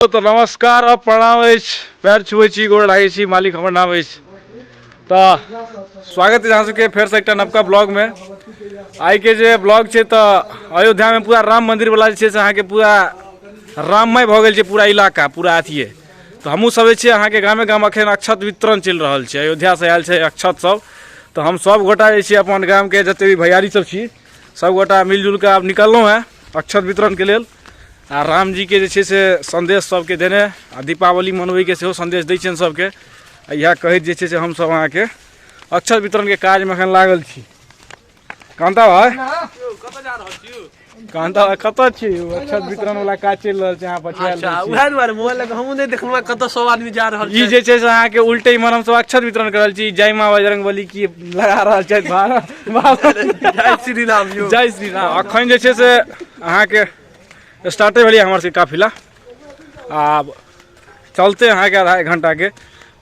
तऽ नमस्कार आ प्रणाम अछि पैर छुए छी गोड़ लागै छी मालिक हमर नाम अछि तऽ स्वागत अछि अहाँ सबके फेरसँ एकटा नवका ब्लॉगमे आइके जे ब्लॉग छै तऽ अयोध्यामे पूरा राम मन्दिरवला जे छै से अहाँके पूरा राममय भऽ गेल छै पूरा इलाका पूरा अथिए तऽ हमहूँ सब जे छै अहाँके गामे गाम अखन अक्षत वितरण चलि रहल छै अयोध्यासँ आयल छै अक्षत सब तऽ हम सब गोटा जे छै अपन गामके जते भी भैयारी सब छी सब गोटा मिलजुल कऽ आब निकललहुँ हेँ अक्षत वितरणके लेल आ रामजीके जे छै से सन्देश सभके देने आ दीपावली मनबैके सेहो सन्देश दै छियनि सभके आ इएह कहैत जे छै से हमसभ अहाँके अक्षर वितरणके काजमे एखन लागल छी कान्ता भाइ कान्ता भाइ कतऽ छी यौ? अक्षर वितरणवला काज चलि रहल छै अहाँ पछुआएल अच्छा रहै छी। उएह दुआरे मोबाइल लऽ कऽ हमहूँ नहि देखलहुँ कतऽ सब आदमी जा रहल ई छै जे छै से अहाँके उल्टे इम्हर हमसभ अक्षर वितरण कर रहल छी जय माँ बजरंग बली की लगा रहल छथि भारत भारत जय श्री राम यौ जय श्री राम अखन जे छै से अहाँके स्टार्टे भेलै हमर सबके काफिला आब चलते अहाँके आधा एक घण्टाके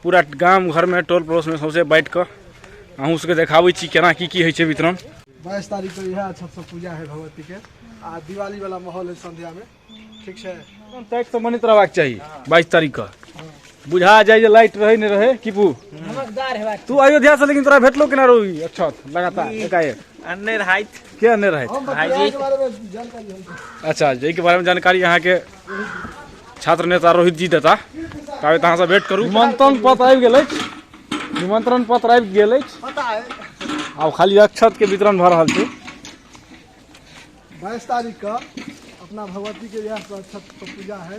पूरा गाम घरमे टोल पड़ोसमे सौंसे बाँटि कऽ अहूँ सबके देखाबै छी केना की की होइ छै वितरण बाईस तारीख के इएह छत से पूजा है भगवती के आ दिवाली वाला माहौल है संध्या में ठीक छै ताकि तऽ बनैत रहबाक चाही बाईस तारीख कऽ बुझा जाइ जे लाइट रहै नहि रहै की पू तू अयोध्या से लेकिन तोरा भेटलो केना रहो ई अक्षत लगातार एकाएक अन्य राइत के नहि रहैत हम भाइजी। बतियाके बारे में जानकारी हम अच्छा जाहिके बारेमे जानकारी अहाँके छात्र नेता रोहित जी देता ताबे अहाँसँ भेट करू निमंत्रण पत्र आबि गेल अछि निमंत्रण पत्र आबि गेल अछि पता है आब खाली अक्षत के वितरण भऽ रहल छै बाईस तारीख का अपना भगवती के यहाँ पर छठ पर पूजा है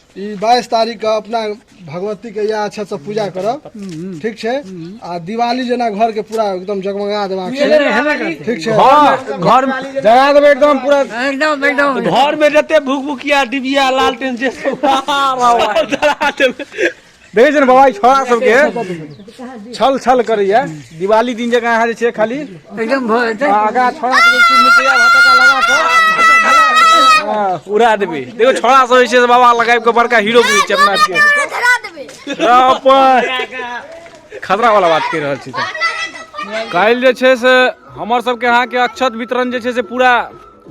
ई बाईस तारीख के अपना भगवती के या अच्छा से पूजा करब ठीक छै आ दिवाली जेना घर के पूरा एकदम जगमगा देबाक छै ठीक छै घर जगा देबै एकदम पूरा एकदम एकदम घर में जते भूख भूखिया डिबिया लालटेन जे सब जरा देबै देखै छियै ने बाबा ई छोड़ा सबके छल छल करैया दिवाली दिन जकाँ अहाँ जे छै खाली एकदम भऽ जेतै आगा छोड़ा सबके चुन मिटिया भटका लगा कऽ हाँ, उड़ा देबै देखो छोड़ा सब जे छै से बाबा लगाबि कऽ बड़का हीरो बुझै छै अपना आपके धरा देबै अपन खतरा वाला बात कहि रहल छी तऽ काल्हि जे छै से हमर सबके अहाँके अक्षत वितरण जे छै से पूरा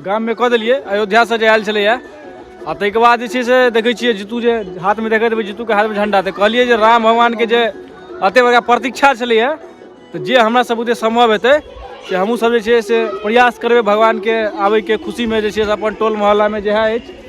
गाममे कऽ देलियै अयोध्यासँ जे आयल छलैए आ ताहिके बाद जे छै से देखै छियै जीतू जे हाथमे देखैत देबै जीतूके हाथमे झंडा तऽ कहलियै जे राम भगवानके जे एतेक बड़का प्रतीक्षा छलैए तऽ जे हमरा सब बुते सम्भव हेतै से हमहूँसभ जे छै से प्रयास करबै भगवानके आबैके खुशीमे जे छै से अपन टोल मोहल्लामे जएह अछि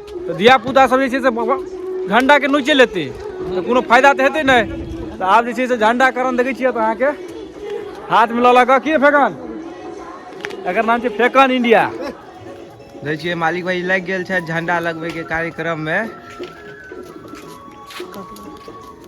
तऽ धियापुता सब जे छै से झण्डाके नोचे लेतै तऽ कोनो फायदा तऽ हेतै नहि तऽ आब जे छै से झण्डा करण देखै छियै तऽ अहाँके हाथमे लऽ लऽ कऽ की फेकन एकर नाम छै फेकन इंडिया देखै छियै मालिक भाई लागि गेल छै झण्डा लगबैके कार्यक्रममे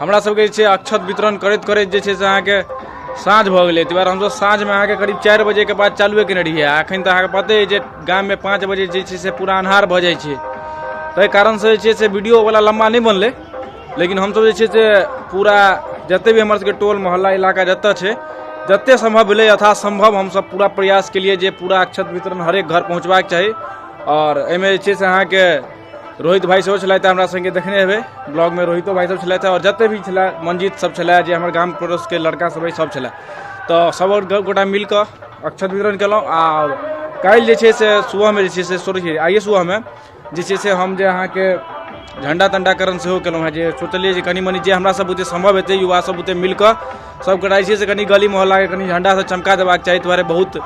हमरा सबके जे छै अक्षत वितरण करैत करैत जे छै से अहाँके साँझ भऽ गेलै ताहि दुआरे हमसब साँझमे अहाँके करीब चारि बजेके बाद चालुए केने रहियै आ एखन तऽ अहाँके पते अइ जे गाममे पाँच बजे जे छै से पूरा अन्हार भऽ जाइ छै ताहि कारणसँ जे छै से वीडियोवला लम्बा नहि बनलै लेकिन हमसब जे छै से पूरा जतेक भी हमर सबके टोल मोहल्ला इलाका जतऽ छै जतेक सम्भव भेलै यथा सम्भव हमसब पूरा प्रयास केलिए जे पूरा अक्षत वितरण हरेक घर पहुँचबाके चाही आओर एहिमे जे छै से अहाँके रोहित भाई सेहो छलथि हमरा संगे देखने हेबै ब्लॉग में रोहितो भाई सब छलथि और जते भी छला मंजीत सब छला जे हमर गाम पड़ोस के लड़का सब सब छला तो सब गोटा मिल के अक्षत वितरण केलहुँ आ काल्हि जे छै से सुबहमे जे छै से सॉरी आइए सुबहमे जे छै से हम जे अहाँके झण्डा तण्डाकरण सेहो केलहुँ हेँ जे सोचलियै जे कनि मनि जे हमरासभ बुते सम्भव हेतै युवासभ बुते मिलि कऽ सबके रहै छै से कनि गली मोहल्लाके कनि झण्डासँ चमका देबाक चाही दुआरे बहुत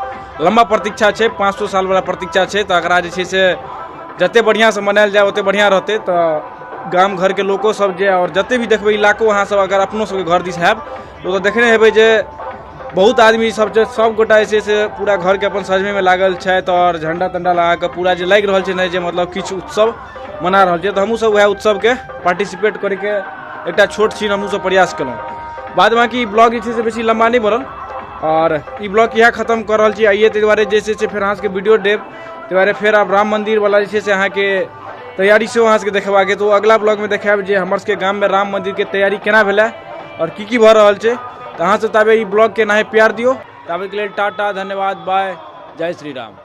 लम्बा प्रतीक्षा छै पाँच सए सालवला प्रतीक्षा छै तऽ एकरा जे छै से जतेक बढ़िआँसँ मनायल जाय ओतेक बढ़िआँ रहतै तऽ गाम घरके लोकोसभ जे आओर जतेक भी देखबै इलाको अहाँसभ अगर अपनो सभके घर दिस हैब तऽ ओतय देखने हेबै जे बहुत आदमी सब छै सभगोटा जे छै से पूरा घरके अपन सजबैमे लागल छथि आओर झण्डा तण्डा लगा कऽ पूरा जे लागि रहल छै ने जे मतलब किछु उत्सव मना रहल छियै तऽ हमहूँसभ उएह उत्सवके पार्टिसिपेट करैके एकटा छोट छीन हमहूँसभ प्रयास केलहुँ बाद बाँकी ई ब्लॉग जे छै से बेसी लम्बा नहि बनल आओर ई ब्लॉग इएह खतम कर रहल छी आइए ताहि दुआरे जे छै से फेर अहाँसभके वीडियो देब ताहि दुआरे फेर आब राम मन्दिरवला जे छै से अहाँके तैयारी सेहो अहाँसभके देखेबाक अइ तऽ ओ अगिला ब्लॉगमे देखायब जे हमरसभके गाममे राम मन्दिरके तैयारी केना भेलै आओर की की भऽ रहल छै तऽ अहाँसभ ताबे ई ब्लॉगके एनाहे प्यार दियौ ताबेके लेल टाटा धन्यवाद बाय जय श्री राम